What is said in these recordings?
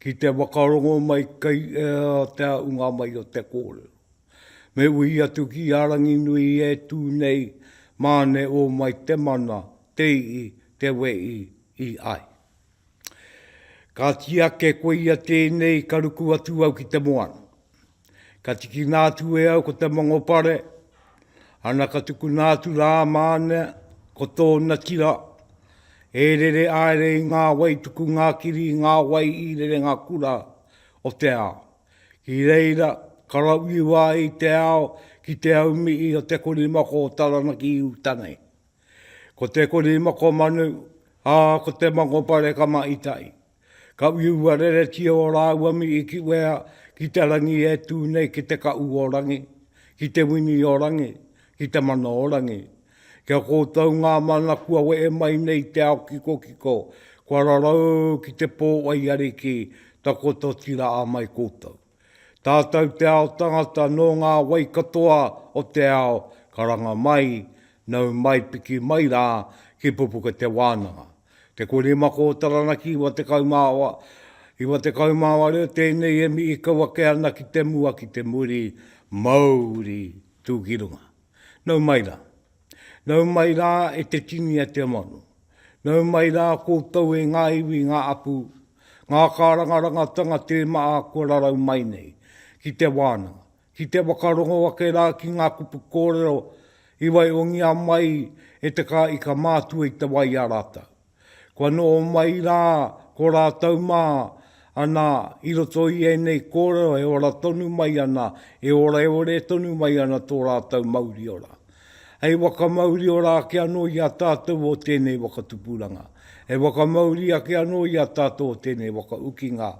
ki te whakarongo mai kei ea te aunga mai o te kōrero. Me uhi atu ki a Ranginui e tū nei, māne o mai te mana, te ii, te wei, i ai. Ka tiake koia tēnei ka ruku atu au ki te moana. Ka tikina atu e au ko te mongopare, ana ka tukuna atu rā māne ko tōna tira, e rere aere i ngā wai tuku ngā kiri i ngā wai i rerenga kura o te ao. Ki reira, ka rauiwa i te ao ki te aumii o te korimako o Taranaki i uta nei. Ko te korimako manu, ā, ko te mongopare ka mahi tahi. Ka uiua reretia o rāua mi i kiwea ki te rangi e tū nei ki te kaʻu o rangi, ki te wini o rangi, ki te mana o rangi. Kia kōtou ngā mana kua wehe mai nei te ao kikokiko, kua rarau ki te pō wai ariki, takoto tira a mai kōtou. Tātou te ao tangata nō ngā wai katoa o te ao, karanga mai, nau mai piki mai rā ki Pupuka Te Wānanga. Te kore mako o Taranaki iwa tekau mā wa, iwa tekau mā wa reo tēnei e mii kau ake ana ki te mua ki te muri, mauri tūkirunga. Nau mai rā. Nau mai rā e te tini a te amanu. Nau mai rā koutou e ngā iwi, ngā apu, ngā kārangarangatanga tē maha kua rarau mai nei ki te wānanga, ki te whakarongo ake rā ki ngā kupu kōrero i waihongia mai e te Kāika Mātua i te wai i a rātou. Kua noho mai rā ko rātou mā, ana, i roto i ēnei kōrero e ora tonu mai ana, e oreore tonu mai ana tō rātou mauriora. Hei whakamauriora ake anō i a tātou o tēnei whakatupuranga, hei whakamauri ake anō i a tātou o tēnei whakaukinga,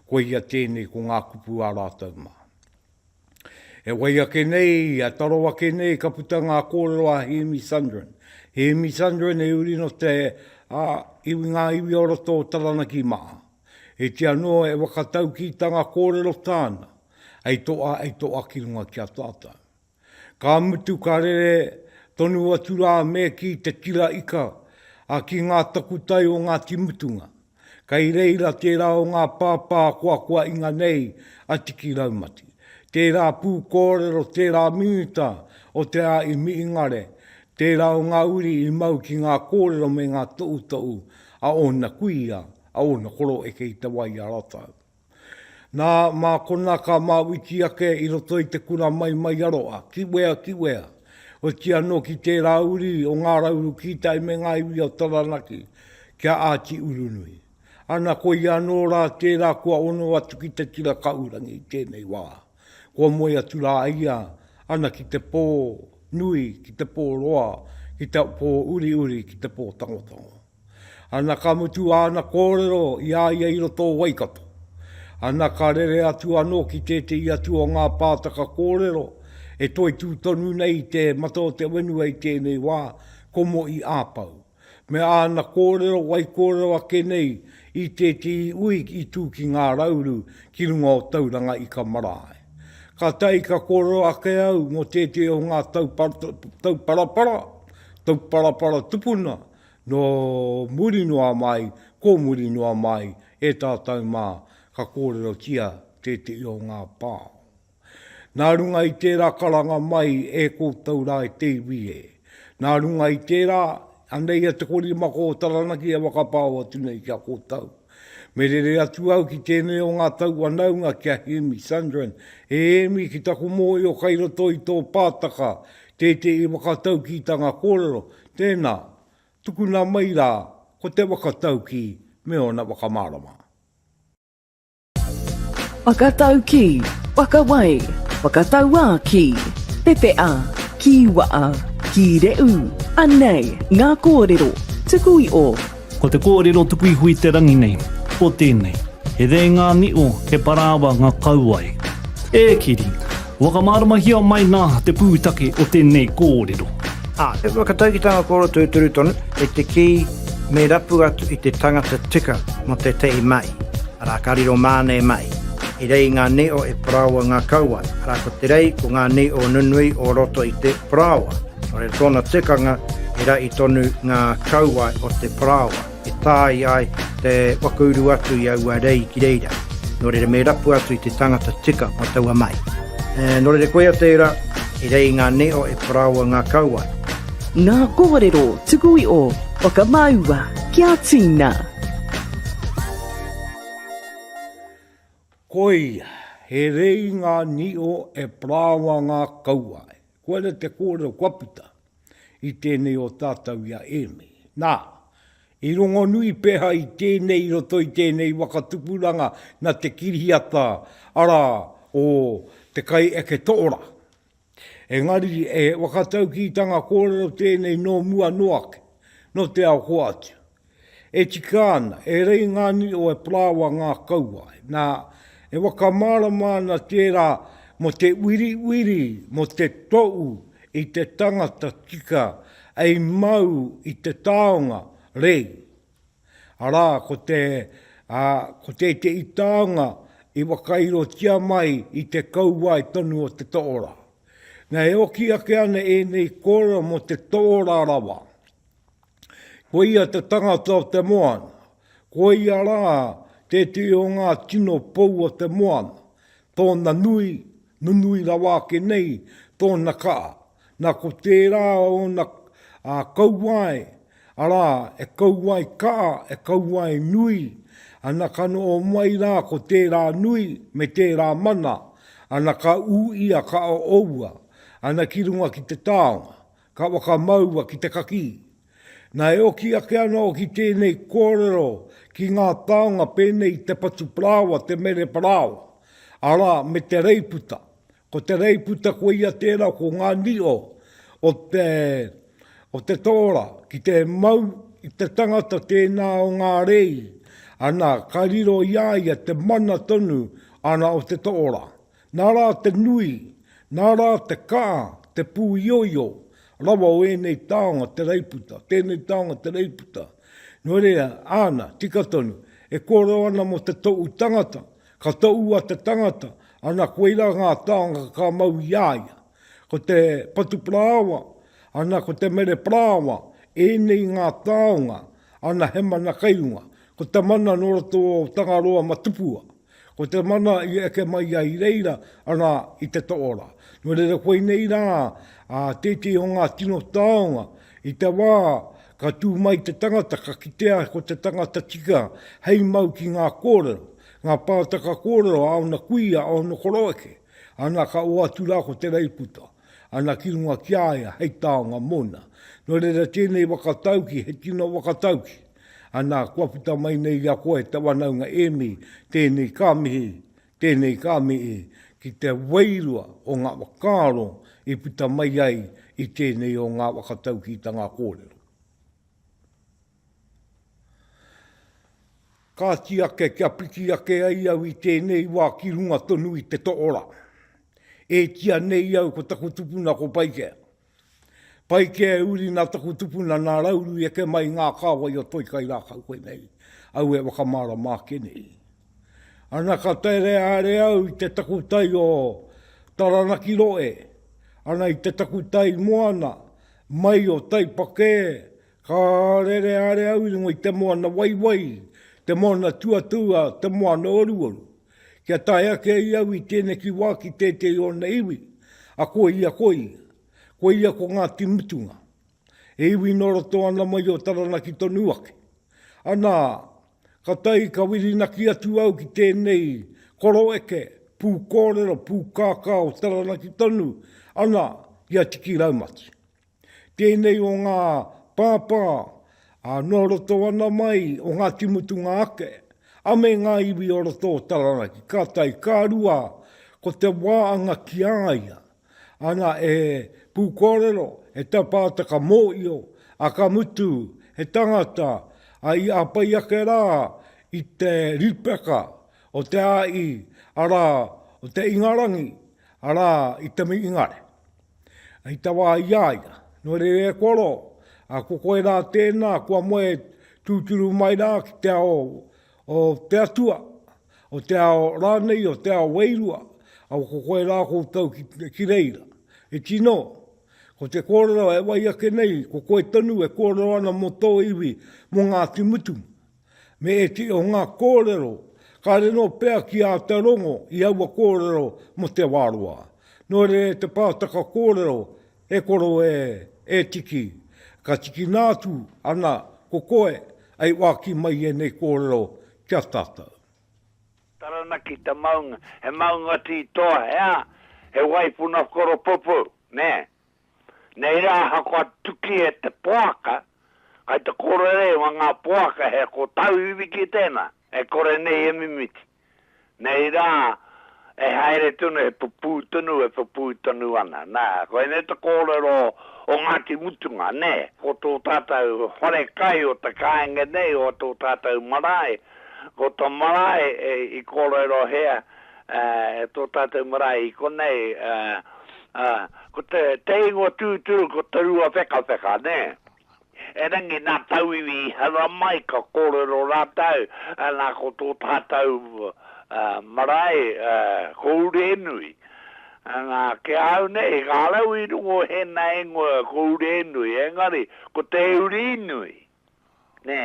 koia tēnei ko ngā kupu a rātou mā. E whai ake nei, i a taro ake nei ka puta ngā kōrero a Hēmi Sundrin. Hēmi Sundrin e uri nō te a, iwi ngā iwi o roto o Taranaki mā. E ti anō e whakataukītanga kōrero tāna, hei toa, hei toa ki runga ki a tātou. Ka mutu ka rere tonu atu rā me ki te tira ika, a ki ngā takutai o Ngāti Mutunga. Kei reira tērā o ngā pāpā koakoa inga nei a Tiki Raumati. Tērā pū kōrero tērā minita o Te Āi Mihingare, tērā o ngā uri i mau ki ngā kōrero me ngā toʻutoʻu a ōna kuia, a ōna koroeke i te wai i a rātou. Nā, mā konā ka māwiti ake i roto i te kura maimaiaroa, kiwea, kiwea, oti anō ki tērā uri o Ngā Rauru Kītai me ngā iwi o Taranaki, kia āti urunui. Ana, koia anō rā tērā kua ono atu ki te tira kahurangi i tēnei wā. Kua moe atu rā a ia, ana ki te pō nui, ki te pō roa, ki te pō uriuri, ki te pō tangotango. Ana ka mutu āna kōrero i a ia i roto o Waikato. Ana ka rere atu anō ki tētehi atu o ngā pātaka kōrero e toitū tonu nei i te mata o te whenua i tēnei wā, ko Mo'i Āpau, me āna kōrero waikōrero ake nei i tētehi ui i tū ki Ngā Rauru ki runga o Tauranga Ika Marae. Kātahi ka kōrero ake au mō tētehi o ngā tauparapara, tauparapara tupuna, Nō muri noa mai, ko muri noa mai e tātou mā, ka kōrerotia tētehi o ngā pā. Nā runga i tērā karanga mai e koutou rā e te iwi e. Nā runga i tērā, anei ia te korimako o Taranaki e whakapao atu nei ki a koutou. Me rere atu au ki tēnei o ngā taua naunga ki a Hēmi Sundrin. E Hēmi, ki taku mōhio kai roto i tō pātaka tētehi whakataukītanga kōrero, tēnā, tukuna mai rā ko te whakataukī me ōna whakamārama. Whakataukī, whakawai, whakatauākī, pepeā, kīwaā, kīreū, anei ngā kōrero, tuku i ō. Ko te kōrero tuku iho i te rangi nei, ko tēnei, He rēngā nio, he parāwa nga kau ai. E Kiri, whakamāramahia mai nā te pūtake o tēnei kōrero. Ā, he whakataukitanga kōrero tūturu tonu, kei te kī me rapu atu i te tangata tika mō tētehi mahi, arā, ka riro māne mai, He rei ngā nio, he parāwa ngā kau ai, arā, ko te rei, ko ngā nio nunui o roto i te parāwa. Nō tōna tikanga i rahi tonu ngā kauae o te parāoa e tāi ai te waka uru atu i aua rei ki reira. Nō reira me rapu atu i te tangata tika mō taua mai. Nō reira koia tērā, i rei i ngā nīo e parāoa ngā kauae. Ngā kōrero tuku iho, whakamāua kia tīna. Koia, he rei i ngā nīo e parāoa ngā kauae. Koira te kōrero kua puta i tēnei o tātou i a Ēmi. Nā, i rongonui pēhā i tēnei i roto i tēnei waka tupuranga nā te kiriata, arā, o Te Kai Eke Toora. Engari, he whakataukītanga kōrero tēnei nō mua noa ake, nō te ao hoatu. E tika ana, e rei ngā nui o Epraoa ngā kauae, nā, e whakamārama ana tērā mō te uiriuiri mō te toʻu i te tangata tika ei mau i te taonga, rei. Arā, ko te, ā, ko tētehi taonga i whakairotia mai i te kauae tonu o te toʻora. Nā, e oki ake ana ēnei kōrero mō te toʻora rawa, Ko ia te tangata o te moana. Ko ia rā tētehi o ngā tino pou o te moana, tōna nui, nunui rawa ake nei tōna kaha. Nā ko tērā ōna kauae, arā, e kauae kaha, e kauae nui, ana ka noho mai rā ko tērā nui me tērā mana, ana ka ū ia ka oua, ana ki runga ki te taonga. Ka whakamaua ki te kakī. Na e oki ake ana au ki tēnei kōrero ki ngā taonga pēnei i te patu parāoa, te mere parāoa, arā, me te reiputa. Ko te reiputa koia tērā ko ngā nio o te, o te tōra ki te mau i te tangata tēnā o ngā rei, ana, ka riro i a ia te mana tonu, ana, o te tōra. Nā rā te nui, nā rā te kā, te pūioio rawa o ēnei taonga te reiputa, tēnei taonga te reiputa. Nō reira, āna, tika tonu, e kōrero ana mō te toʻu tangata, ka toʻu a te tangata, ana koirā ngā taonga ka mau i a ia. Ko te patuparāoa, ana ko te mereparāoa, ēnei ngā taonga, ana he mana kei runga, ko te mana nō roto o Tangaroa ma Tupua. Ko te mana i eke mai ai i reira, arā, i te toora. Nō reira koinei rā tētehi o ngā tino taonga i te wā ka tū mai te tangata, ka kitea ko te tangata tika hei mau ki ngā kōrero, ngā pātaka kōrero a ōna kuia, a ōna koroeke, ana ka oatu rā ko Te Reiputa. ana ki runga ki a ia hei taonga mōna. Nō reira tēnei waka tauki he tino waka tauki. Anā, kua puta mai nei i a koe te wanaunga ēmi, tēnei ka mihi, tēnei ka mihi, ki te wairua o ngā whakaaro i puta mai ai i tēnei o ngā waka taukitanga kōrero. Kāti ake kia piki ake ai au i tēnei wā ki runga tonu i te toora. E tia nei au ko taku tupuna ko Paikea. Paikea e uri nā taku tupuna nā Rauru i eke mai i ngā kāwai o Toikai rākau koinei au e whakamārama ake nei. Ana ka tere haere au i te takutai o Taranaki Roe, ana i te takutai moana mai o Taipakē Ka rere haere au i runga i te moana waiwai, te moana tuatua, te moana oruoru. Kia tae ake ai au i tēneki wā ki tētehi o ōna iwi, a koia ko ia. Koia ko Ngāti Mutunga. He iwi nō roto ana mai o Taranaki tonu ake. Anā, ka tae ka whirinaki atu au ki tēnei koroeke, pūkōrero, pūkākā o Taranaki tonu, ana, ki a Tiki Raumati. tēnei o ngā pāpā ā, noa roto ana mai o Ngāti Mutunga ake, a me ngā iwi o roto o Taranaki, ka tae, ka rua, ko te wā anga ki a ia, ana e pūkōrero, e tapātaka mōio, ā, ka mutu, he tangata, ā, i āpai ake rā i te ripeka o te āi, arā, o te Ingarangi, arā, i te Mingare. I tawa ai i a ia, Nō reira e koa roa, ā, ko koe rā tēnā, kua moe tūturu mai rā ki te ao o te Atua, o te ao rānei, o te ao wairua, ā, ko koe rā koutou ki reira. E tino, ko te kōrero e wai ake nei, ko koe tonu e kōrero ana mō tō iwi, mō Ngāti Mutunga. Me iti o nga korero ka riro pea ki a te rongo i aua korero mo te wa roa. No rere te pataka korero e koro e, e tiki, ka tikina atu ana ko koe ai waki mai enei korero ki a tatou. Taranaki te maunga, he maunga ti toa, he a, he waipuna koropupuu, ne, Nei rā ahakoa tuki e te poaka, kai te kōrerewa ngā poaka he kotau iwi ki tēnā, e kore nei e mimiti. Nei rā e haere tonu, e pupū tonu, e pupū tonu ana. Nā, koinei te kōrero o Ngāti Mutunga, nē? Ko tō tātou wharekai o te kāinga nei, o tō tātou marae, ko tō marae i kōrero hea, E tō tātou marae i konei, ko te ingoa tūturu ko Te Ruawhekawheka, nē. Erangi nā tauiwi i hara mai ka kōrero rātou, nā ko tō tātou marae ko Urenui. Nā, ki a au nei, kāreau i rongo hēnā ingoa ko Urenui, engari ko Te Uri Nui, nē.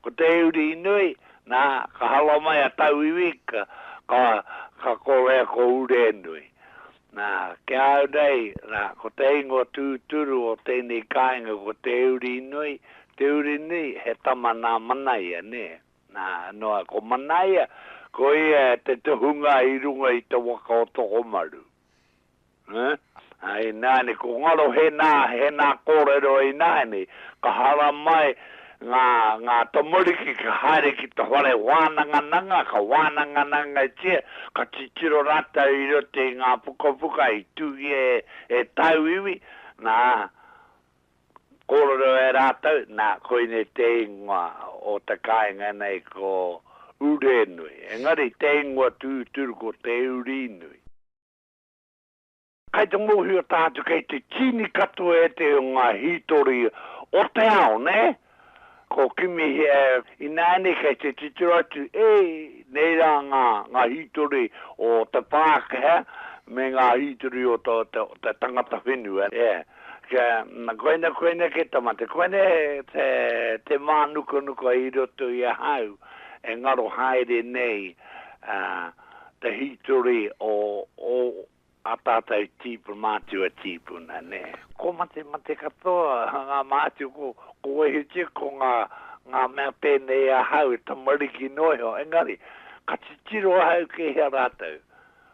Ko te uri nui, nā, ka hala mai a tauiwi, ka, ka, ka korea ko Urenui. Nā, ki a au nei, nā, ko te ingoa tūturu o tēnei kāinga ko te uri nui, te uri nui, he tama nā Manaia, nē. Nā, noa, ko Manaia, ko ia te tohunga i runga i te waka o Tokomaru. Ā, ināianei, ko ngaro he nā, he nā kōrero ināianei, ka haramai ngā, ngā tamariki kia haere ki te whare wānangananga, ka wānanganangatia, ka titiro rātou i roto i ngā pukapuka i tūngia e, e tāu iwi, nā, Kōrero e rātou, nā, koinei te ingoa o te kāinga nei ko Urenui. Engari, te ingoa tūturu ko Te Urinui. Kai te mōhio tātou kei te tīni katoa ētahi o ngā hītori o te ao, nē? Ko kimi he ae inaane kei te titiro atu e nei ra nga nga hitori o te Pakeha me nga hitori o to te tangata whenua e kia na koina koina ke tamate koina te te manukanuka i roto i ahau e ngaro haere nei a te hitori o o A tātou tīpu mātua tīpuna, nē. Ko mate mate katoa ngā mātua, ko, ko wehitia ko ngā, ngā mea pēnei i ahau e tamariki noa iho, engari, ka titiro ahau kei hea rātou.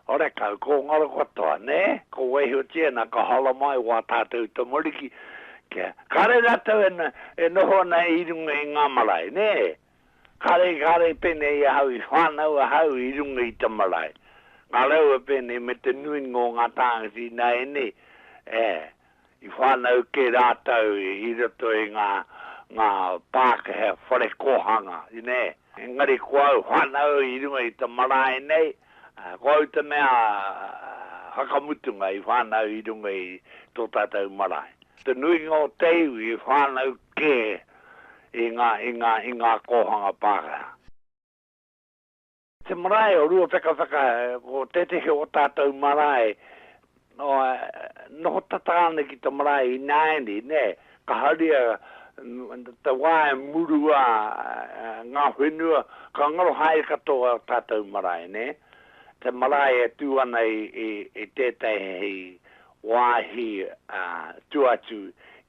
Horekau, ko ngaro katoa, nē, ko wehitia nā ka hala mai wā tātou tamariki, kia, kāre rātou e, e noho ana i runga i ngā marae, nē, Kāre, kāre pēnei i ahau i whānau ahau i runga i te marae. Ngā raua pēnei me te nuinga o ngā tāngata ināianei, ē, i whānau kē rātou i roto i ngā, ngā Pākehā whare kōhanga, nē. Engari ko au whānau i runga i te marae nei, ko au te mea whakamutunga i whānau i runga i tō tātou marae. Te nuinga o te iwi i whānau kē i ngā, i ngā, i ngā kōhanga Pākehā. Te marae o Ruawhekawheka, ko tētehi o tātou marae, noho tata ana ki te marae ināianei, nē, ka haria te wā e murua ngā whenua, ka ngaro haere katoa ō tātou marae, nē, te marae e tū ana i tētehi wāhi tū atu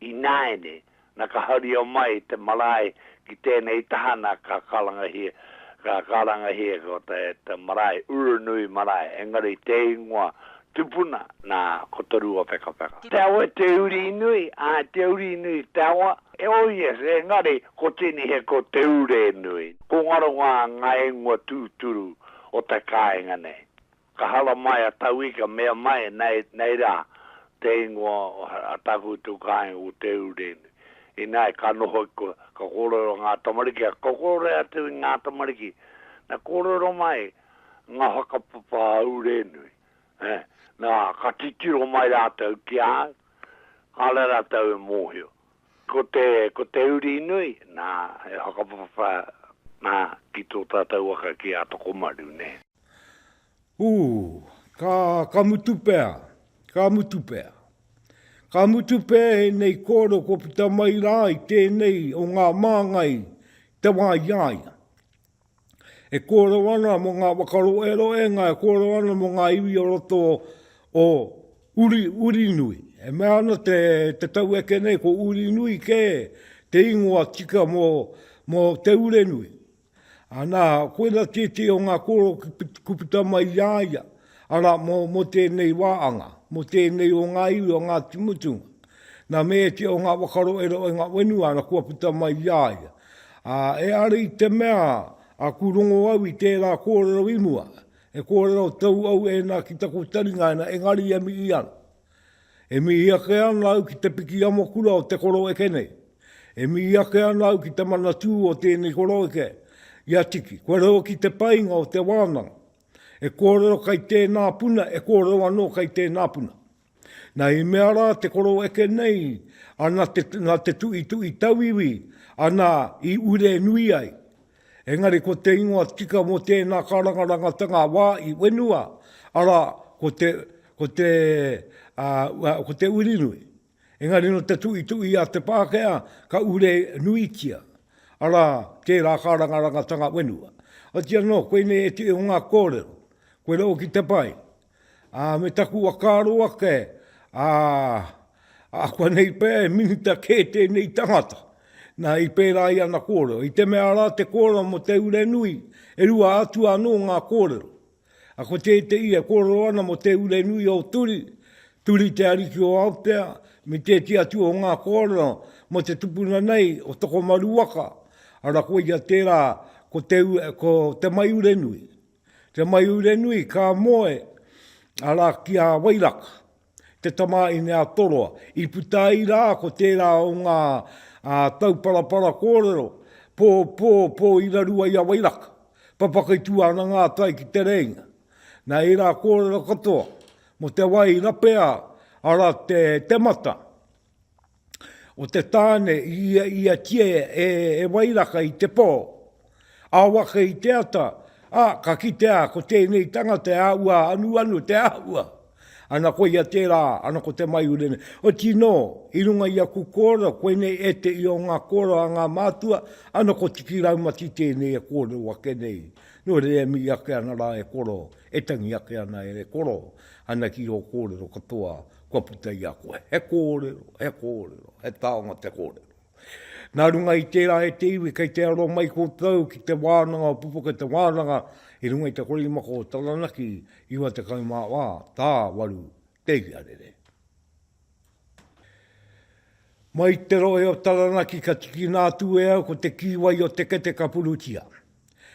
ināiane, na ka haria mai te marae ki tēnei taha na ka karangahia, ka karangahia ko te marae Uranui marae, engari te ingoa tupuna na ko Te Rua Whekawheka. Te awa e Te Uri Nui, a Te Uri Nui te awa, oh yes, engari ko tēnei he ko Te Ure Nui. Ko ngaro ngā ingoa tūturu o te kāinga nei. Ka haramai a Taui ka mea mai, Nei, nei rā te ingoa o a tāku tū kāinga ko Te Urene. Ināi, ka noho i koe, ka kōrero ngā tamariki, ka kokorea atu i ngā tamariki, na kōrero mai ngā whakapapa a Urenui, ē, nā, ka titiro mai rātou ki a au, kāre rātou e mōhio. Ko te, ko te uri nui, nā, he whakapapa, nā, ki tō tātou waka ki a Tokomaru, nē. Ū, ka, ka mutu pea, ka mutu pea. Ka mutu pea ēnei kōrero kua puta mai rā i tēnei o ngā māngai te wā i a ia. E kōrero ana mō ngā whakaroeroenga, e kōrero ana mō ngā iwi o roto o Uri, Urinui. E mea ana te, te taueke nei ko Urinui kē te ingoa tika mō, mō Te Urenui. Anā, koira tētehi o ngā kōrero ka puta mai i a ia, arā, mō, mō tēnei wā anga, mō tēnei o ngā iwi o Ngāti Mutunga. Nā Mēetie o ngā Wakaroero i ngā whenua ana kua puta mai i a ia. Ā, e are i te mea, aku rongo au i tērā kōrero i mua, e kōrero tau au ēnā ki taku taringa ēnā, engari e mihi ana. E mihi ake ana au ki te piki amokura o te koroeke nei. E mihi ake ana au ki te manatū o tēnei koroeke, i a Tiki. Kua reo ki te painga o te wānanga. E kōrero kai tēnā puna, e kōrero anō kai tēnā puna. Na, i mea rā te koroeke nei, a na te, na te tuitui tauiwi, ana i ure nui ai. Engari ko te ingoa tika mō tēnā karangarangatanga a wā i whenua, arā, ko te, ko te, uh, ko te Urinui. Engari no te tuitui a te Pākehā ka ure nuitia, arā, tērā karangarangatanga whenua. Otiano, koinei e te o ngā kōrero, koe rau ki te pai. Ā, me taku whakaaro ake, ā, akuanei pea e minita kē tēnei tangata. Nā, i pērā i ana kōrero. I te mea rā te kōrero mō te urenui, e rua atu anō ngā kōrero. A ko tētehi e kōrero ana mō te urenui o Turi, Turi te ariki o Aotea, me tētehi atu o ngā kōrero mō te tupuna nei o Tokomaru waka, arā koia tērā ko te, ko te maiurenui. Te Maiurenui, ka moe, arā, ki a Wairaka, te tamāhine a Toroa. I puta ai rā ko tērā o ngā tauparapara kōrero, pō, pō, pō i raru ai a Wairaka. Papaka i tū ana ngā tai ki Te Rēinga. Nā ērā kōrero katoa, mō te wai rapea, arā, te temata. o te tāne i ia i a tie e e wairaka i te pō. Awaka i te ata, a, ka kitea ko tēnei tangata e āhua anuanu te āhua. Ana koia tērā, ana ko te maiure nei. Oti nō, i runga i aku kōrero, koinei ētehi o ngā kōrero a ngā mātua, ana ko Tiki Raumati tēnei e kōrero ake nei. Nō reira e mihi ake ana rā e koro, e tangi ake ana e koro, ana ki ō kōrero katoa, Kua puta i a koe he kōrero, he kōrero, he taonga te kōrero. Nā runga i tērā e te iwi kei te aro mai koutou ki te wānanga o Pupuke Te Wānanga i runga i te korimako o Taranaki 94 tā waru te iarere. Mai te rohe o Taranaki ka tikina atu e au ko te kīwai o te kete ka purutia.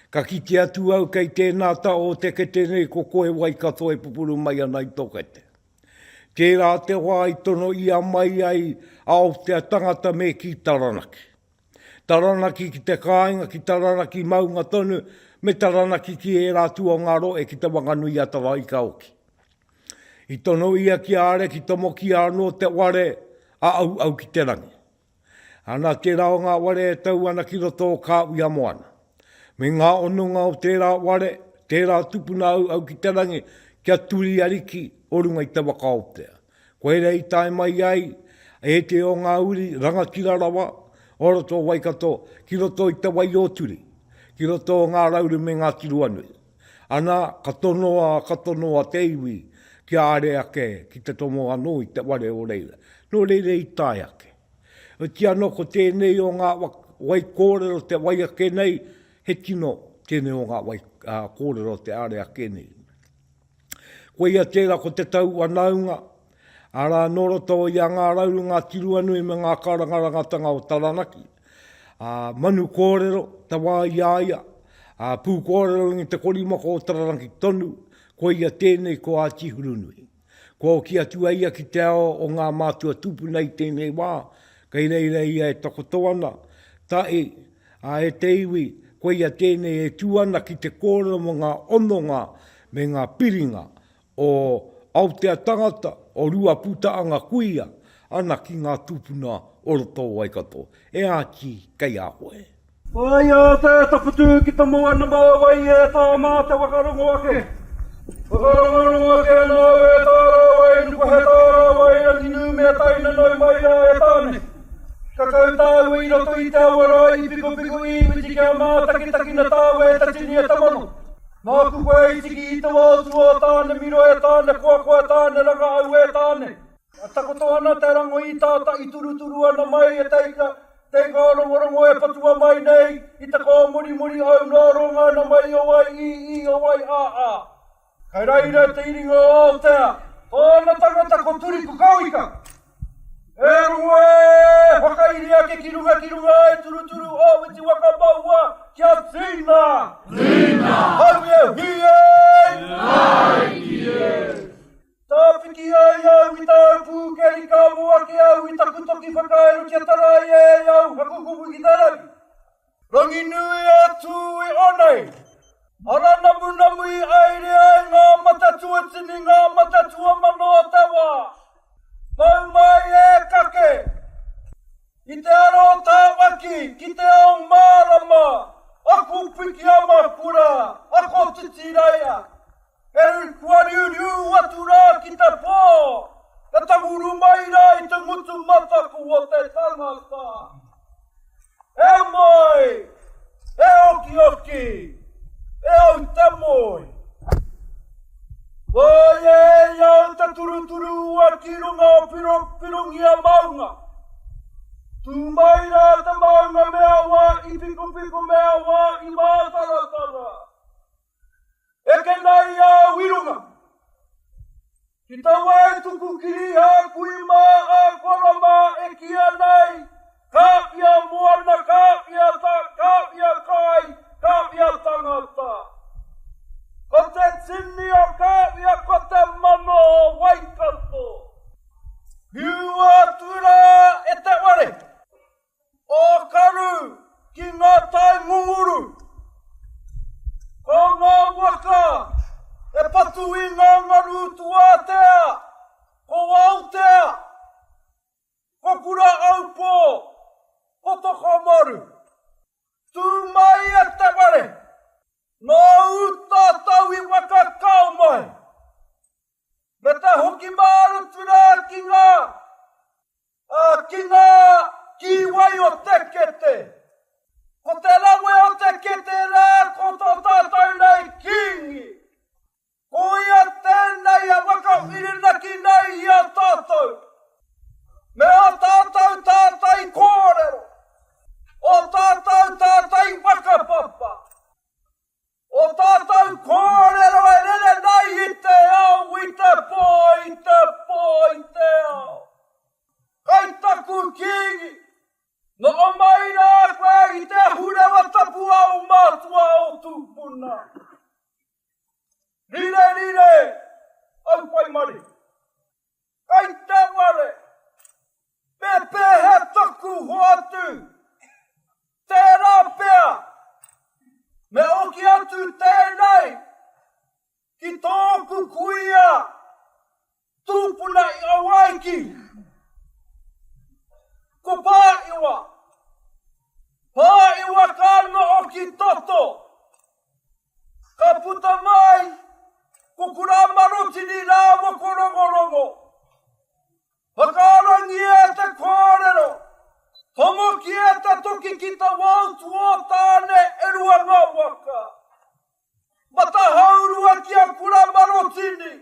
Ka kite atu au kei tēnā ta o te kete nei ko koe Waikato e pupuru mai ana i to kete. Tērā te wā i tono ia mai ai a Aotea tangata me ki Taranaki. Taranaki ki te kāinga ki Taranaki maunga tonu me Taranaki ki ērā tuangaroe ki Te Whanganui-a-Tara i Kaoki. I tono ia ki a Ariki Tomoki anō te ware a Auau ki te rangi. Anake rā o ngā ware e tau ana ki roto o kā uia moana. Me ngā ononga o tērā ware, tērā tupuna auau ki te rangi kia turi ariki o runga i te waka o te. Koirā i tae mai ai e te o ngā uri rangatira rawa o roto o Waikato ki roto i te wai o turi, ki roto o ngā rauru me ngā tiroanui. Ana, ka tonoa, ka tonoa te iwi ki a are ake ki te tomo anō i te ware o reira. Nō reira i tae ake. Oti anō ko tēnei o ngā wai kōrero te wai ake nei, he tino tēnei o ngā wai kōrero te are ake nei. Koia tērā ko te tau wanaunga, arā, nō roto i a Ngā Rauru, Ngā Tiruanui me ngā karangarangatanga o Taranaki, ā, manu kōrero, te wā i a ia, ā, pū kōrero ngi te korimako o Taranaki tonu, koia tēnei ko Āti Hurunui. Kua oki atu a ia ki te ao o ngā mātua tūpuna i tēnei wā, kei reira ia e takoto ana, tae Ā, e te iwi, koia tēnei e tū ana ki te kōrero mō ngā hononga me ngā piringa o Aotea tangata, o Ruapūtaanga kuia ana ki ngā tūpuna o roto o Waikato. E Āti, kei a koe. Whāia te taputū ki te moa nama o wai e tā mā te waka rongo ake. Whakarongorongo ake ana au e tā rāwai nuku he tā rāwai rangi nū me tae nanau mai rā e Tāne. Ka kau tāua i roto i te awa rā i pikopiko i Iwiti kia mātakitakina tāua e Tatinia Tamano. Māku koe e tiki i te wā o tua o tāna miro e tāna koakoa e tāna rangahau e tāna. E takoto ana te rango i tata i turuturu ana mai e teika, teika o rongorongo e patua mai nei i te kōmorimori au noa ronga ana mai o wai i i o wai a a. Kei reira te iringa o Aotea. Tōna tangata ko Turiku Kawika. E rongo e, whakairi ake ki runga ki runga e turuturu o Witi Waka Maua kia tīna! Tīna! Hauiauhi e! Nāiki e! Tāpiki ai au i tāu pūkeri ka moa ke au i taku toki whakairo kia tarai ai au hakukupu ki te rangi. Ranginui a Tū i onei. Ara namunamu i aere ai ngā mata tuatini ngā mata tuamano o te wā. Mau mai e kake. I te aro tāwaki ki te ao mārama aku pikiamakura a Kotitiraia. Hei whariuriu atu rā ki te pā, ka tanguru mai rā i te ngutu mataku o te tangata. E māi, e okioki, e au te moe. Whāia e i a au te turuturu ua ki runga o Pirongia maunga. Tū mai rā te maunga me awa i pikopiko me awa i mātaratara. Eke nei a Wirunga ki taua e tuku kiriha kui mā a Kora mā e kī ana ai, Kāwhia moana, kāwhia ta, kāwhia kai, kāwhia tangata. Ko te tini o Kāwhia ko te mano o Waikato. Whiua atu rā e te ware! O Karu ki nga tai ngunguru Ko nga waka e patu i nga ngaru Tuatea, ko Aotea, ko Kura-aupō, ko Tokomaru Tu mai a te whare, no u tatau i waka kao mai Me te hoki mārutu rā ki ngā, ā, ki ngā kīwai o te kete. Ko te rawe o te kete rā ko tō tātou nei Kīngi. Ko ia tēnei a whakawhirinaki nei i a tātou me ō tātou tātai kōrero, ō tātou tātai whakapapa. O tātou kōrero e rere nei i te ao, i te pō, i te pō, i te ao. Kai taku Kīngi, noho mai rā koe i te ahurewa tapu a ō mātua ō tūpuna. Rire, rire, au pai marie. Kai te ware, me pēhea taku hoatu? Tērā pea, me oki atu tēnei ki tōku kuia tūpuna i Awaiki. Ko Pāʻiwa, Pāʻiwa ka noho ki Toto, Ka puta mai ko Kuramarotini rāua ko Rongorongo. Whakaarangia e te kōrero, tomoki e te toki ki te wao tuotāne e rua ngā waka. Matahaurua ki a Kuramarotini,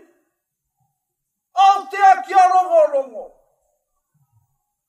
Aotea ki a Rongorongo.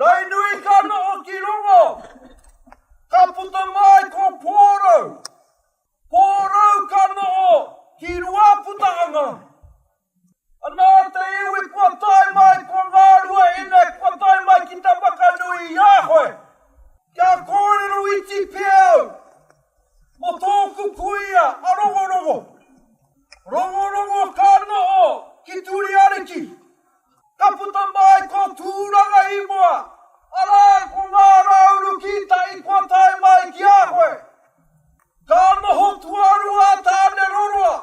Rainui ka noho ki rongo, ka puta mai ko Pōrou. Pōrou ka noho ki Ruaputaanga. Anā te iwi kua tae mai ko ngā ruahine kua tae mai ki te whakanui i a koe. Kia kōrero iti pea au mō tōku kuia a Rongorongo. Rongorongo ka noho ki Turiariki. Ka puta mai ko Tūranga i mua, arā, ko ngā rāuru kītai kua tae mai ki a koe. Ka noho tuarua a Tāne Roroa,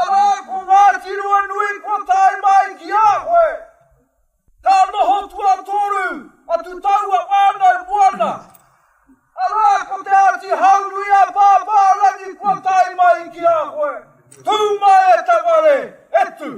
arā, ko Ngāti Ruanui kua tae mai ki a koe. Ka noho tuatoru atu taua whānau moana, arā, ko Te Āti Haurui-a-Pāpārangi kua tae mai ki a koe. Tū mai e te whare, e tū!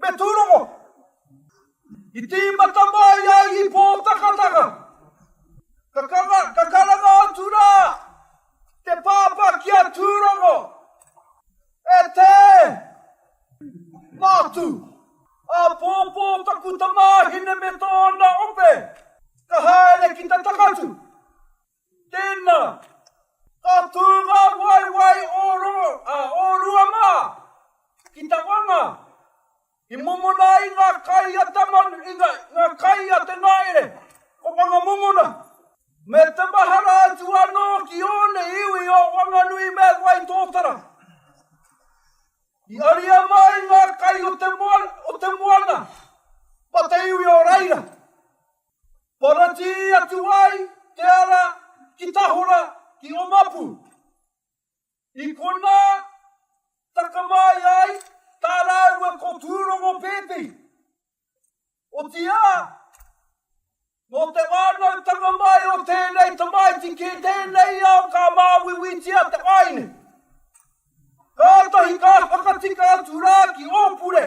Me tūrongo! I tīmata mai a Ipo Takataka! Ka kanga, ka karanga atu rā te pāpā ki a Tūrongo, E tē! Mātū! Āpōpō taku tamāhine me tōna ope! Ka haere ki te takatū! Tēnā, ka tū ngā waewae o roto, ā, o rua mā, ki te wanga, i mōmona ai ngā kai a te manu, i ngā kai a te ngaere, ko Whangamomona, me te mahara atu anō ki ōna iwi o Wanganui me Waitōtara. I aria mā i ngā kai o te moana, o te moana, ma te iwi o reira. Poratī atu ai te ara ki Tahora, ki Omapu. I konā taka mai ai tā rāua ko Tūrongo Pēpi, otīā, nō te whānautanga mai o tēnei tamaiti ki tēnei ao ka māuiuitia te waeine. Kātahi ka whakatika atu rā ki Ōpure.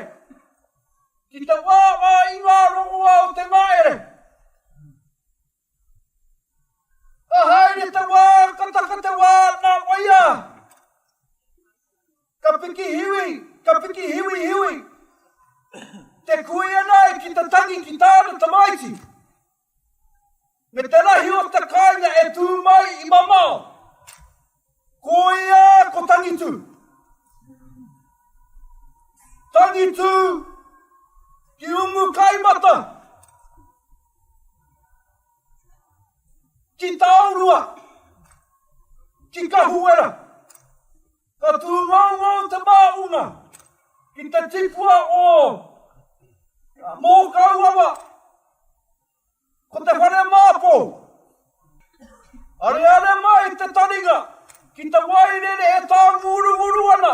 Ki te wā mā i ngā rongoā o te ngahere. Ka haere te wā, ka taka te wā, nā wai ā. Ka piki hiwi, ka piki hiwi hiwi. Te kuia nei ki te tangi ki tāna tamaiti. Me te rahi o te kāinga e tū mai i mamao, ko ia ko Tangitū. Tangitū ki Umukaimata, ki Taorua, ki Kahuwera. Ka tūngoungou te māunga ki te tipua o ngā mōkau awa, ko te whare māpou. Areare mai te taringa ki te wairere e tānguruuru ana.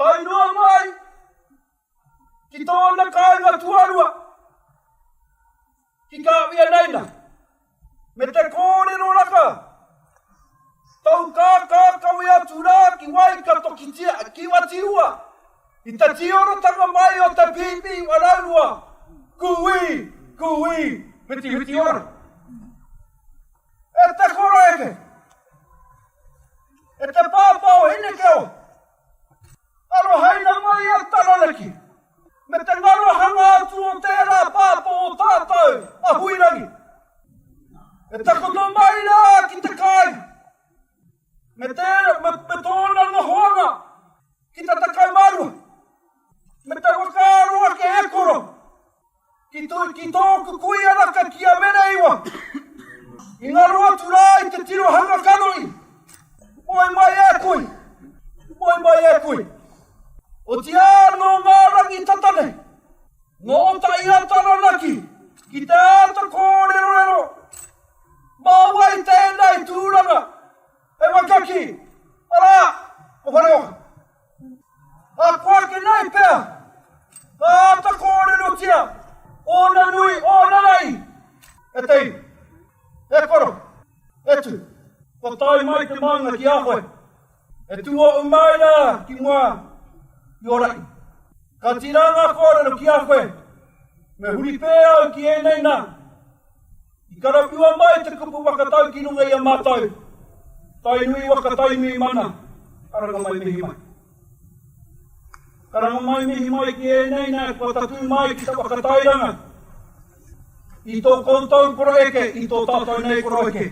Tae noa mai ki tōna kāinga tuarua, ki Kāwhia Naina, me te kōrero raka, tou kākākawe atu rā ki Waikato ki Te Kiwatiua, i te tiorotanga mai o te pīpī waraurua, Kūī! Kūī! Whitiwhiti ora! E te kura eke! E te pāpā o Hinekeoi! Arohaina mai a Taranaki me te ngarohanga atu o tērā pāpā o tātou a Huirangi. E takoto mai rā ki te kāinga me, te, me, me tōna nohoanga ki te 12 me te whakaaro ake e koro. Ki tōku kui anaka ki a Mereiwa, i ngaro atu rā i te tirohanga kanohi, moe mai e koe, moe mai e koe. Otiā nō ngā rangi tata nei, nō Ōtaira Taranaki ki te āta kōrerorero, mā wai tēnei tūranga e waka ki, arā, ko Whareoka. Ahakoa ki nei pea, ka āta kōrerotia ōna nui, ōna rahi. E te iwi, e koro, e tū, kua tae mai te maunga ki a koe, e tū oʻu mai rā ki mua i ō rahi. Ka tīrā ngā kōrero ki a koe, me huri pē au ki ēnei nā. I karapua mai te kupu whakatau ki runga i a mātou Tainui waka Tainui mana, karanga mai mihi mai. Karanga mai mihi mai ki ēnei nā kua tatū mai ki te whakatairanga i tō koutou koroeke i tō tātou nei koroeke.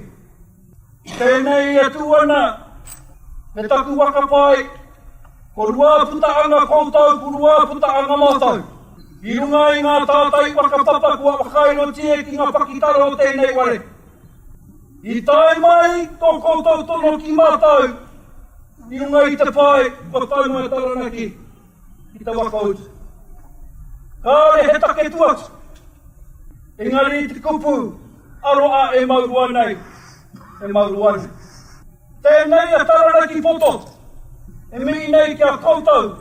Tēnei e tū ana me taku whakapae, ko rua puta anga koutou, ko rua puta anga mātou. I runga i ngā tātai whakapapa kua whakairotia ki ngā pakitara o tēnei ware, i tae mai tō koutou tono ki mātou i runga i te pae kua taunga e Taranaki ki te waka o te. Kāore he take tu atu, engari i te kupu aro a e mau roa nei, e mau roa nei. Tēnei a Taranaki Poto e mihi nei ki a koutou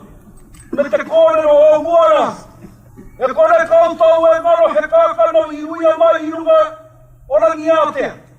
me te kōrero o mua rā, e kore koutou e ngaro he kākano i uia mai i runga o Rangiātea.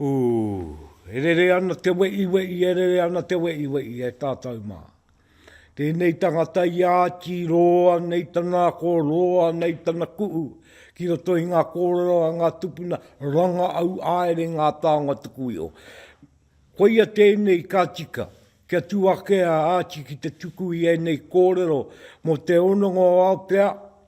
Ū, e rere ana te weʻiweʻi, e rere ana te weʻiweʻi e tātou mā. Tēnei tangata i āti roa nei tana ako, roa nei tana kuʻu ki roto i ngā kōrero a ngā tupuna, rangaʻau āere ngā taonga tuku iho. Koia tēnei ka tika, kia tū ake a Āti ki te tuku i ēnei kōrero mō te hononga o Aotea,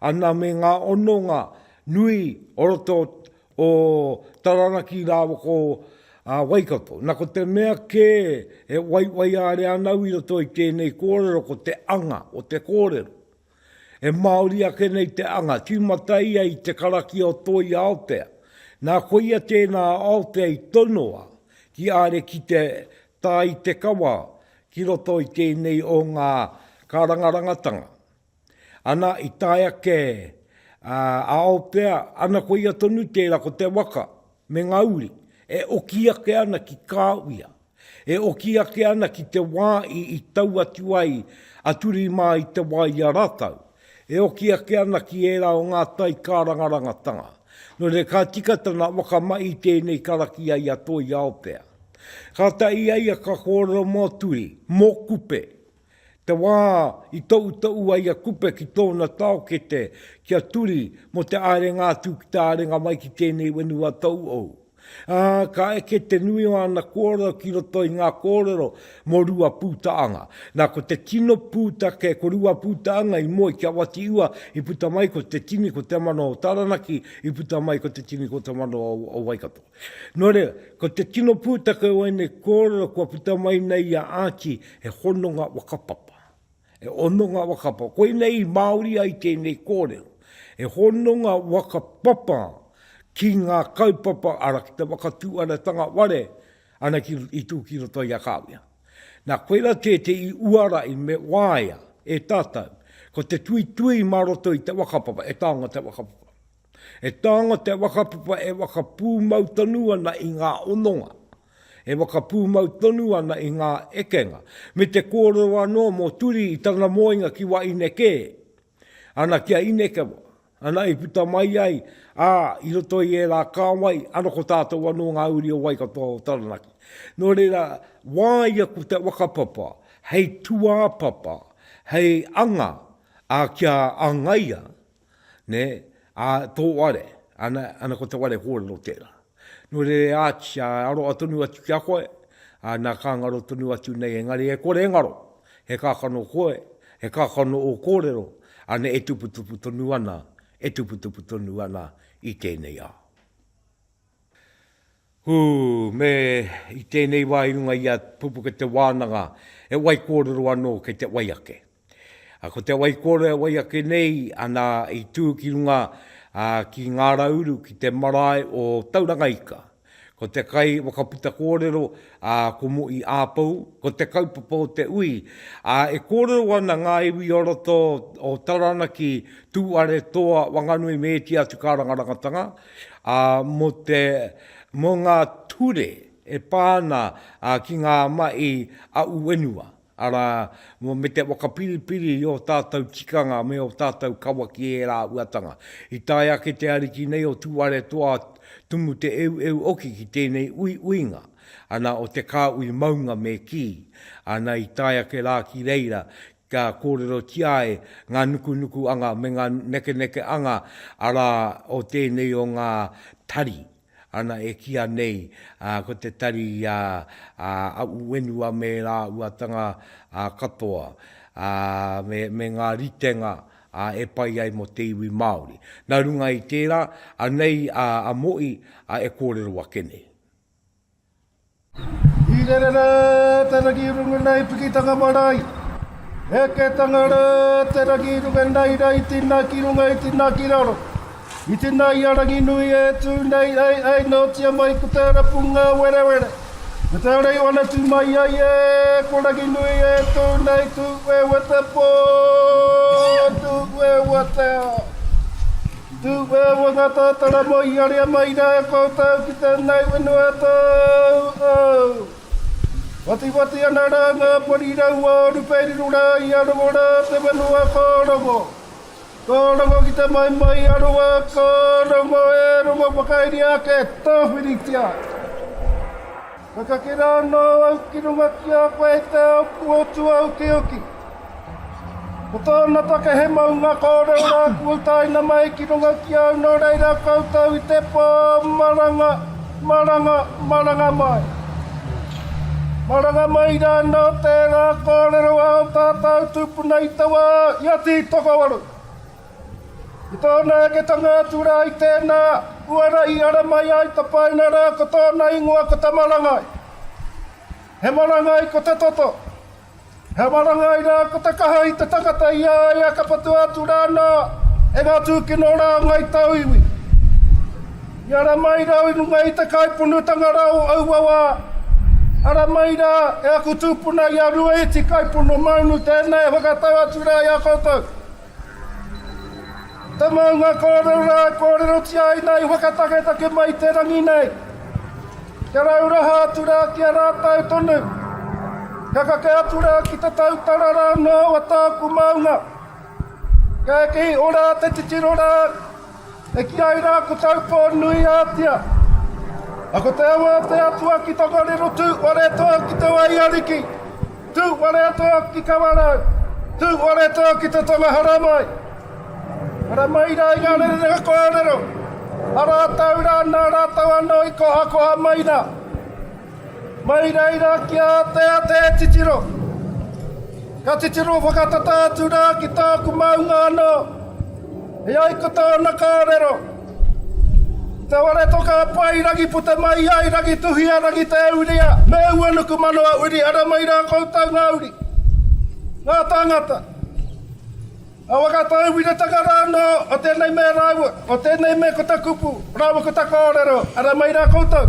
Ana me ngā ononga nui o roto o Taranaki rawako a Waikato. Na ko te mea ke e waiwaiārea nau i roto i tēnei kōrero ko te anga o te kōrero. E Māori ake nei te anga, tīmata ia i te karakia o Toi Aotea. Na koia tēnā a Aotea i tonoa ki are ki te tā i te kawa ki roto i tēnei o ngā kārangarangatanga. Ana i tae ake a ao pea, ana koia tonu tera ko te waka me nga uri e oki ake ana ki ka uia, e oki ake ana ki te wa i i tau atu ai a Turi ma i te wa i a ratau, e oki ake ana ki era o nga tai karangarangatanga. No reira ka tika tana waka mai i tenei karakia i a Toi Aopea. Kata i a ia ka korero mo Turi, mo Kupe, Te wā i toutou ai a Kupe ki tōna taokete ki a Turi mō te ārenga atu ki te ārenga mai ki tēnei whenua tauhou, ā, ka eke te nui o ana kōrero ki roto i ngā kōrero mō Ruapūtaanga. Nā, ko te tino pūtake ko Ruapūtaanga i moe ki a Watiua i puta mai ko Te Tini ko Te Mano o Taranaki i puta mai ko Te Tini ko Te Mano o Waikato. Nō reira, ko te tino pūtake o ēnei kōrero kua puta mai nei i a Archie, he hononga whakapapa. He hononga whakapapa. Koinei i Māori ai tēnei kōrero. He hononga whakapapa ki ngā kaupapa, arā, ki te whakatūaratanga whare, ana ki, i tū ki roto i a Kāwia. Nā, koirā tētehi uara i me waea e tātou, ko te tuitui mā roto i te whakapapa, e taonga te whakapapa. E taonga te whakapapa e whakapūmau tonu ana i ngā hononga, e whakapūmau tonu ana i ngā ekenga, me te kōrero anō mō Turi i tana moenga ki Waine kē, ana ki a Inekewa, ana i puta mai ai, ā, i roto i ērā kāwai, ana ko tātou anō ngā uri o Waikato, o Taranaki. Nō reira, wāia ko te whakapapa hei tūāpapa, hei anga ā kia āngaia nē, ā, tō ware, ana, ana ko te ware kōrero tērā. Nō reira e āki, ā, e aroha tonu atu ki a koe, ā, nā, ka ngaro tonu atu nei, engari e kore e ngaro, he kākano koe, he kākano ō kōrero, ana, e tuputupu tonu ana, e tuputupu tonu ana i tēnei ao. Hū, me i tēnei wā i runga i a Pupuke te wānanga e wai kōrero anō kei te wai ake. Ko te wai kōrero e wai ake nei ana i tū ki runga ki Ngā Rauru ki te marae o Tauranga Ika. Ko te kai whakaputa kōrero ko Mo'i Āpou, ko te kaupapa o te ui e kōrero ana ngā iwi o roto o Taranaki, Tūwharetoa, Wanganui me ētehi atu kārangarangatanga, Ā, mō te, mō ngā ture e pā ana ki ngā mahi aʻu whenua, arā, mō, me te whakapiripiri i ō tātou tikanga me ō tātou kawa ki ērā āhuatanga. I tae ake te Ariki nei o Tūwharetoa Tumu Te Eueu Oki ki tēnei uiuinga ana o te kāhui maunga me kī ana i tae ake rā ki reira kia kōrerotia ai ngā nukunukuanga me ngā nekenekeanga arā o tēnei o ngā tari ana e kīa nei ko te tari a aʻu whenua me rāuatanga katoa me ngā ritenga e pai ai mō te iwi Māori. Nā runga i tērā, anei a Moʻi e kōrero ake nei. I rere ra te rangi runga nei pikitanga marae. Heketanga ra te rangi runga nei ra i tina ki runga i tina ki raro. I tina i a Ranginui e tu nei ei ei notia mai ko te rapunga werewere. Me te rei wana tu mai ai e ko Ranginui e tu nei tu wewe te po tu wewe te. Tūwhea wā ngā tātara mō i haria mai rā e koutou ki tēnei whenua tau au. Whatiwhati ana rā ngā pori raua o Rupeiriru rā i arongo rā te whenua ka rongo. Ka rongo ki te maimai a Rua, ka rongo e rongo whakairia ake, tāwhiritia. Ka kake rā anō au ki runga ki a koe i te ao puotu aukiuki. Ko tōna take he maunga kōrero rā kua utaina mai ki runga ki au nō reira koutou i te pō maranga, maranga, maranga mai. Maranga mai rā anō tērā kōrero ao tātau tūpuna i te wā i a Tītokowaru. I tōna aketanga atu rā i tēnā uara i ara mai ai tapaina rā ko tōna ingoa ko Tamarangai. He marangai ko te toto. He marangai rā ko te kaha i te takata i a ia ka patua atu rānā e ngā tūkino rā o Ngai Tauiwi. I ara mai rau i runga i te kaiponutanga rā o aua wā, ara mai rā e aku tūpuna i a Ruaiti Kaipono Maunu tēnā e whakatau atu rā i a koutou. Te maunga kōrero rā e kōrerotia ai nei whakataketake mai te rangi nei. Kia rauraha atu rā ki a rātou tonu. Kia kake atu rā ki te tautara rā noa o tāku maunga. Kei ora te titiro rā. E ki ai rā ko Taupō nui ātia. A ko te awa o te Atua ki Tokoriro tū ware tō ki te wai ariki, tū ware tō ki Kawarau, tū ware tō ki te tonga haramai. Haramai rā i ngā rerenga kōrero, a rātou rā nā rātou anō i kohakoha mai rā. Mai reira ki a te a te titiro. Ka titiro whakatata atu ra ki tāku maunga anō. E ai ko tōna kōrero, i te ware toka a Pai rangi puta mai ai, rangi tuhia, rangi te uria, me ua nuku mano a uri, ara mai rā koutou ngā uri, ngā tāngata. Awa ka tauwiritanga ra ano o tenei mea raua o tenei mea ko ta kupu raua ko ta korero ara mai ra koutou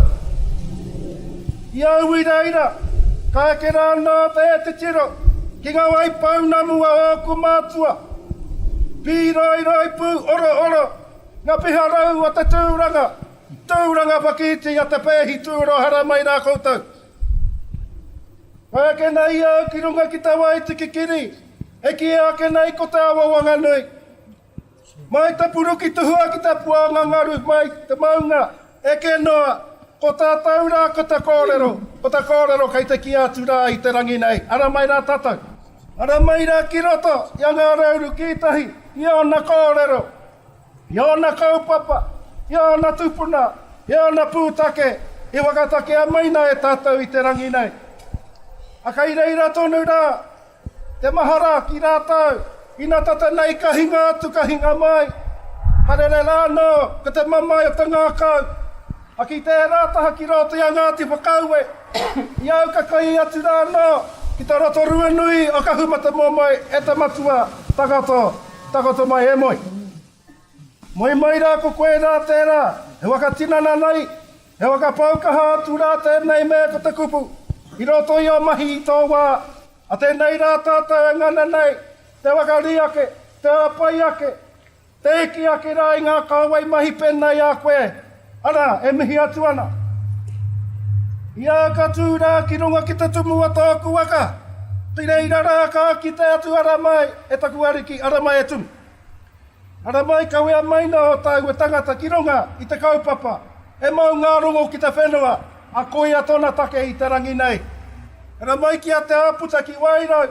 i au i reira ka eke ra ano te titiro ki nga wai pounamu a oku matua piroiroipu orooro nga piharau a te turanga turanga whakiti a te peehi tuoro hara mai ra koutou ka eke nei au ki runga ki te wai tikikiri. E kīia ake nei ko te awa Wanganui. Mai te puruki tuhua ki te puanga ngaru mai te maunga eke noa, ko tātou rā ko te kōrero, ko te kōrero kei te kīia atu rā i te rangi nei, ara mai rā tātou. Ara mai rā ki roto i a Ngā Rauru ki tahi i ōna kōrero, i ōna kaupapa, i ōna tupuna, i ōna pūtake i whakatakea mai nā e tātou i te rangi nei. A kei reira tonu rā Te mahara ki rātou, ina tata nei ka hinga atu, ka hinga mai. Ka rere rā anō, ko te mamae o te ngākau, a ki tērā taha ki rō te a Ngāti Whakaue, i au ka kai atu rā anō ki te Rotorua nui o Kahumatamomoe e te matua, Takoto, takoto mai e moe. Moe mai rā ko koe rā tērā, he waka tinana nei, he waka pau kaha atu rā tēnei mea ko te kupu, i roto i ō mahi i tō wā, a tēnei rā tātou e ngana nei, te waka rī ake, te hāpai ake, te hiki ake rā i ngā kāwai mahi pēnei a koe, arā, e mihi atu ana. I a au ka tū rā ki runga ki te tumu o tōku waka, ki reira rā ka kite atu ara mai e taku Ariki, ara mai e tū. Ara mai kawea mai na o taua tangata ki runga i te kaupapa, he mau nga rongo ki te whenua, a koia tona take i te rangi nei. Ara mai ki a Te Aputa ki Wairau,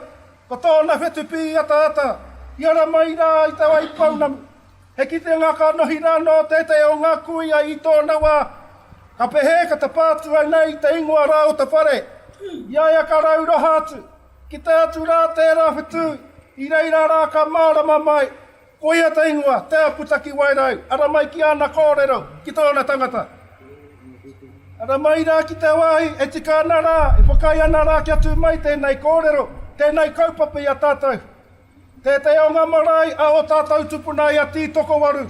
ko tona whetu piiataata, i ara mai ra i te wai pounamu. He kitenga ka nohi ra no tetei o nga kuia i tona wa. Ka pehe ka tapaa atu au nei i te ingoa ra o te whare? I a ia ka rauroha atu. Kite atu rā tērā whetū, i reira rā ka mārama mai, koia te ingoa, Te Aputakiwairau, ara mai ki āna kōrero, ki tōna tangata. Ara mai rā ki te wāhi e tika ana rā, e whakaae ana rā kia tū mai tēnei kōrero, tēnei kaupapa i a tātou. Tētahi o ngā marae a ō tātou tupuna i a Tītokowaru,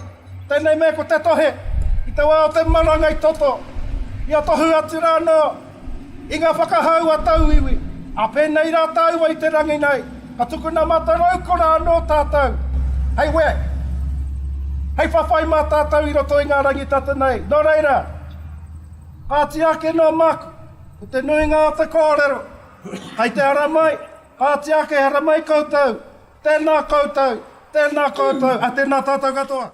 tēnei mea ko Te Tohe, i te wā o te maranga i toto, i a tohu atu rā anō i ngā whakahau a tauiwi. Ā pēnei rā tāua i te rangi nei, ka tukuna mataraukora anō tātou, hei wē, hei whawhai mā tātou i roto i ngā rangi tata nei. Nō reira, kāti ake noa māku, ko te nuinga o te kōrero, kei te ara mai, Kāti ake, haere mai koutou! Tēnā koutou! Tēnā koutou! A tēnā tātou katoa!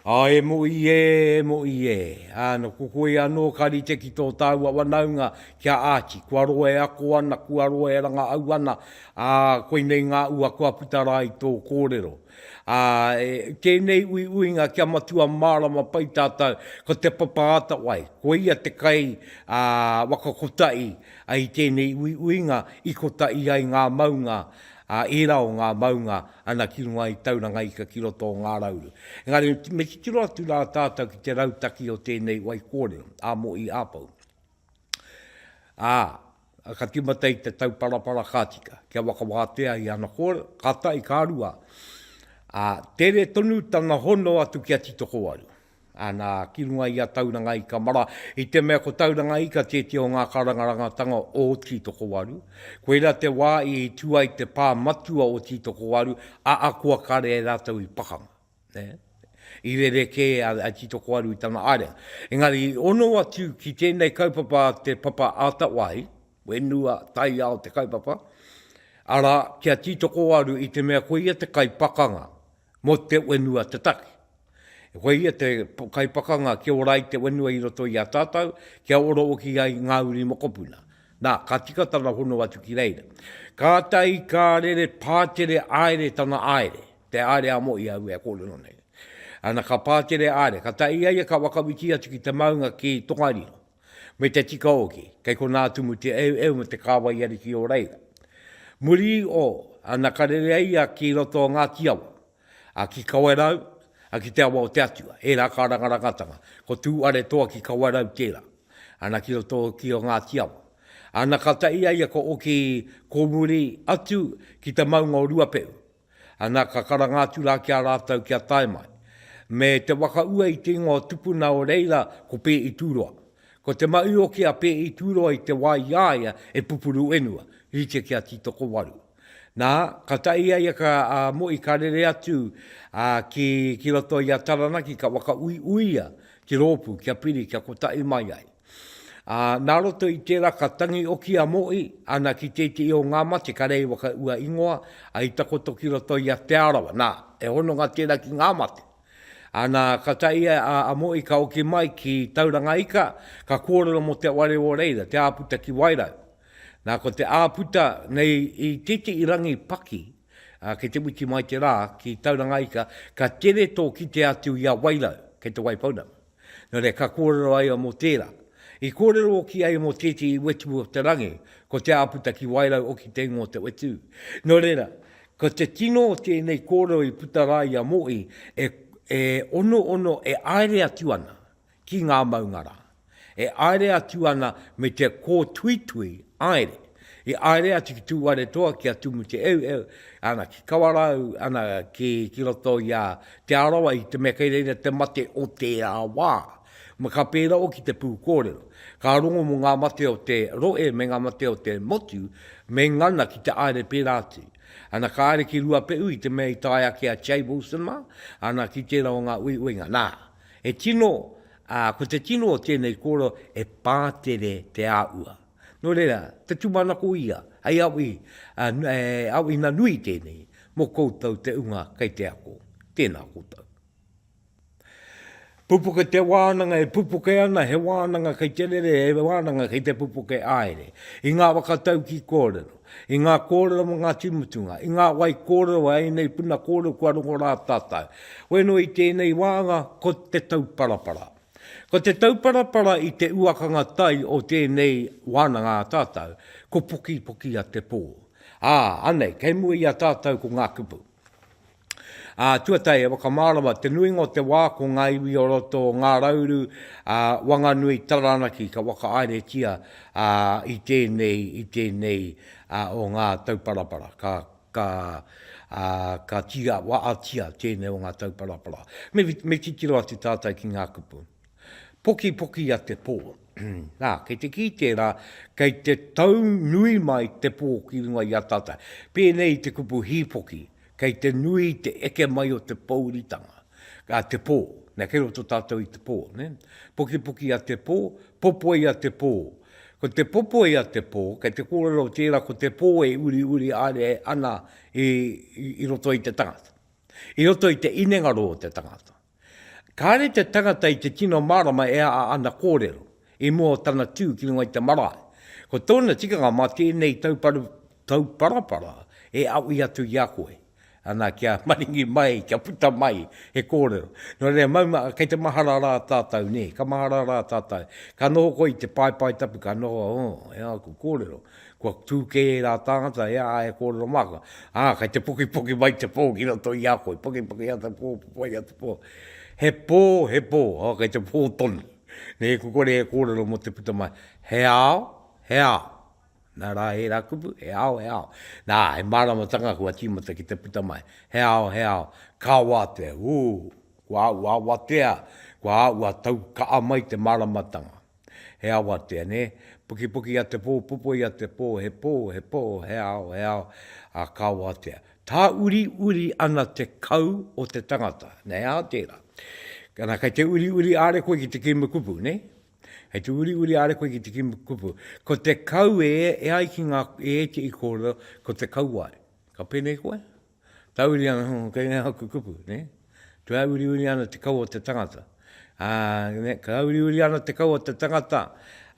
A e moʻi ē, e moʻi ē! A no ko koe anō ka rite ki tō tāua wanaunga, ki a Archie. Kua roa e ako ana, kua roa e rangaʻau ana, ā, koinei ngā ua kua puta rā i tō kōrero. Ā, e, tēnei uiuinga kia matua mārama pai tātou, ko Te Papa Atawai, ko ia te kai, ā, waka kotahi, I tēnei uiuinga i kota i ai ngā maunga, ā, ērā o ngā maunga ana ki runga i Tauranga Ika ki roto o Ngā Rauru. Engari, me titiro atu rā tātou ki te rautaki o tēnei wai kōrero, a Mo'i Āpou. Ā, ka tīmata i te tauparapara ka tika, kia whakawātea i ana kōrero, ka tae, ka rua, ā, tere tonu tana hono atu ki a Titokowaru. Ana, ki runga i a Tauranga Ika Mara, i te mea ko Tauranga Ika tētia o ngā karangarangatanga o Tītokowaru. Koirā te wā i tū ai te pā matua o Tītokowaru, a Akua kare e rātou i pakanga. Ne? I rerekē a, a Tītokowaru i tana ārenga. Engari, i ono atu ki tēnei kaupapa a te papa Atawai, whenua, taiao te kaupapa, arā, ki a Tītokowaru i te mea ko ia te kaipakanga mō te whenua te take. E koe ia te kaipakanga kia ora ai te whenua i roto i a tātou, kia ora hoki ai ngā uri mokopuna. Nā, ka tika tana hono atu ki reira. Kātahi ka rere pātere aere tana aere, te aere a Mohi aue a kōrero nei. Ana ka pātere aere, ka tae i a ia ka whakawiti atu ki te maunga ki Tongariro, me te tika hoki, kei konā atu mu te eueu me te kāwai ariki o reira. Muri i o, ana ka rere ai ia ki roto o Ngāti Awa, a ki Kawerau, a ki te awa o te Atua, ērā kā rangarangatanga, ko Tū Aretoa ki Kawerau tērā, ana ki roto ki o Ngāti Awa. Ana ka tae ia ia ko Oki Kōmuri atu ki te maunga o Ruapehu, ana ka karanga atu rā ki a rātou kia tae mai, me te waka ua i te ingoa o Tupuna o reira ko Pēʻi Tūroa. Ko te maʻi oki a Pēʻi Tūroa i te wā i a ia e pupuru whenua, rite ki a Tītokowaru. Nā, ka tae ia i a ka, a Moʻi ka rere atu, a, ki, ki roto i a Taranaki ka whakauiuia ki rōpū kia piri kia kotaʻi mai ai. A, nā roto i tērā ka tangi oki a Moʻi, ana ki tēteʻi o ngā mate ka rei waka ua ingoa, a i takoto ki roto i a Te Arawa. Nā, he hononga tērā ki ngā mate. Ana, ka tae ia, a, a Moʻi ka oki mai ki Tauranga ika, ka kōrero mo te ware o reira, te āputa ki Wairau. Nā, ko te āputa nei i tētehi rangi paki, ā, kei te witi mai te rā ki Tauranga Ika, ka tere tō kite atu i a Wairau, kei te Waipounamu. Nō reira, ka kōrero ai ia mō tērā. I kōrero hoki ai mō tētehi wetu o te rangi, ko te āputa ki Wairau hoki te ingoa o te wetu. Nō reira, ko te tino o tēnei kōrero i puta rā i a Mohi, e, e onoono, e āere atu ana ki ngā maunga rā. E aere atu ana me te kōtuitui, aere. I aere atu ki Tūwharetoa, ki a Tumu Te Eueu, ana ki Kawarau, ana ki, ki roto i a Te Arawa, i te mea kei reira te mate o tērā wā. Ma ka pērā hoki te pū kōrero. Ka rongo mō ngā mate o te rohe me ngā mate o te motu, me ngana ki te aere pērā atu. Ana ka aere ki Ruapehu i te mea i tae ake a Jay Wilson mā, ana ki tērā o ngā uiuinga. Nā, He tino, ā, ko te tino o tēnei kōrero e pātere te āhua. Nō reira, te tūmanako ia, hei awi, e, awiina nui tēnei mō koutou te unga kei te ako. Tēnā koutou. Pupuke te wānanga e pupuke ana, he wānanga kei te rere, he wānanga kei te pupuke āere. I ngā waka tau ki kōrero. I ngā kōrero mō Ngāti Mutunga, i ngā wai kōrero a ēnei puna kōrero kua rongo rā tātou. Wēnoi i tēnei wāanga ko Te Tauparapara. Ko Te Tauparapara i te uakanga tai o tēnei wānanga a tātou, ko Pokipoki a Te Pō. Ā, anei, kei mua i a tātou ko ngā kupu. Ā, tuatahi e whakamārama te nuinga o te wā ko ngā iwi o roto o Ngā Rauru, ā, Wanganui, Taranaki ka whakaaeretia, ā, i tēnei, i tēnei, ā, o ngā tauparapara. Ka, ka, ā, ka tīa, waatia tēnei o ngā tauparapara. Me, me titiro atu tātou ki ngā kupu. Pokipoki a te pō. Nā, kei te kī tērā, kei te tau nui mai te pō ki runga i a tātou. Pēnei i te kupu hīpoki. Kei te nui te eke mai o te pōuritanga, a te pō, nē, kei roto tātou i te pō, nē. Pukipuki a te pō, popoi a te pō. Ko te popoi a te pō, kei te kōrero tērā ko te pō e uriuri haere ana i roto i te tangata, i roto i te inenga rō o te tangata. Kāre te tangata i te tino mārama e a ana kōrero i mua o tana tū ki runga i te marae. Ko tōna tikanga mā tēnei tauparapara e aui atu i a koe. Ana kia maringi mai, kia puta mai he kōrero. Nō reira, mauma, kei te mahara rā tātou, nē, ka mahara rā tātou. Ka noho koe i te paepae tapu, ka noho, oh, e aku kōrero. Kua tū kē ērā tāngata e a e kōrero māka, ā, kei te pokipoki mai te pō ki roto i a koe, pokipoki atu te pō, pupuai atu te pō. He pō, he pō, ā, kei te pō tonu. Nē, kua kore e kōrero mō te puta mai, he ao, he ao. Nā rā ērā kupu, he ao, he ao. Nā, he māramatanga kua tīmata ki te puta mai, he ao, he ao. Ka wātea, ū, kua āu awatea, kua āu a tau kaʻa mai te māramatanga. He awatea, nē? Pukipuki a te pō, pupoi a te pō, he pō, he pō, he ao, he ao, ā, ka awatea. Tāuriuri ana te kau o te tangata, nē? Ā, tērā. Ana, kei te uriuri are koe ki te kīma kupu, nē? Kei te uriuri are koe ki te kīma kupu. Ko te kau e ai ki ngā, e ētehi kōrero, ko te kauae. Ka pēnei koe? Ka uri ana, oh, kei nei aku kupu, ne? Kua uriuri ana te kaua o te tangata. Ā, ne, ka uriuri ana te kaua o te tangata,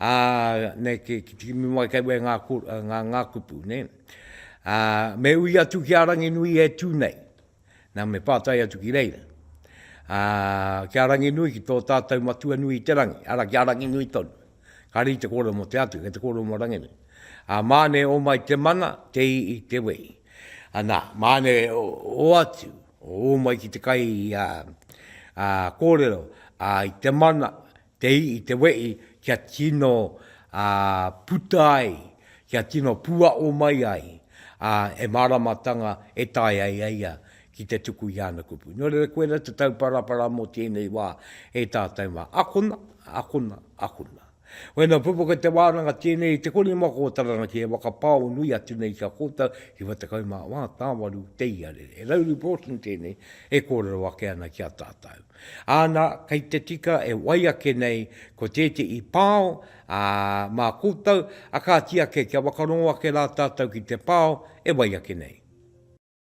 ā, ne, ki, ki te kimi mai kei wei ngā, ngā, ngā kupu, ne? Ā, me ui atu ki a Ranginui e tū nei. Nā, me pātai atu ki reira. Ā, ki a Ranginui, ki tō tātou Matua nui i te rangi, arā, ki a Ranginui tonu. Ka riri te kōrero mō te Atu, kei te kōrero mō Ranginui. Ā, māne o mai te mana, te ii, te wei. Anā, māne o atu, o mai ki te kai kōrero i te mana, te ii, te wei, kia tino puta ai, kia tino puaʻo mai ai e māramatanga e taea ai ia ki te tuku i ana kupu. Nō reira, koirā te tauparapara mō tēnei wā e tātou mā. Akona, akona, akona. Wēnā pupuka te wānanga tēnei i te kori mako o Taranaki e whakapao nui atu nei ki a koutou, ki wha tekau mā wā tāwaru te iarere. He rauru Broughton tēnei e kōrero ake ana ki a tātou. Āna, kei te tika e wai ake nei ko tētehi pao, ā, mā koutou, a kāti ake kia whakarongo ake rā tātou ki te pao e wai ake nei.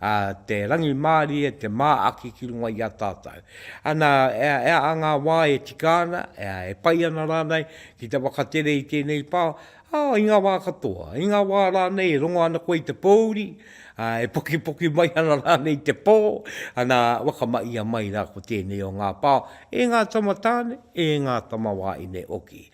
A te rangimārie te māaki ki runga i a tātou. Ana, e aha ngā wā e tika ana, e pai ana rānei ki te whakatere i tēnei pā? Ā, i ngā wā katoa. I ngā wā rānei e rongo ana koe i te pōuri, ā, e pokipoki mai ana rānei te pō, ana, whakamahia mai rā ko tēnei o ngā pā e ngā tamatāne, e ngā tamawāine hoki.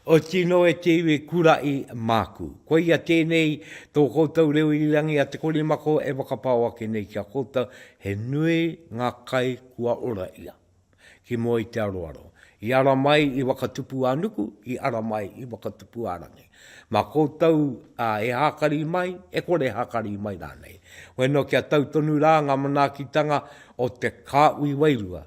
O tino e te iwi kuraʻi māku. Koia tēnei tō koutou reo irirangi a Te Korimako e whakapao ake nei ki a koutou, he nui ngā kai kua ora ia. Ki mua i te aroaro. I ara mai i Wakatupu-ā-nuku, i ara mai i Wakatupu-ā-rangi. Mā koutou e hākari mai, e kore hākari mai rānei. Weno kia tau tonu rā ngā manaakitanga o te kāhui wairua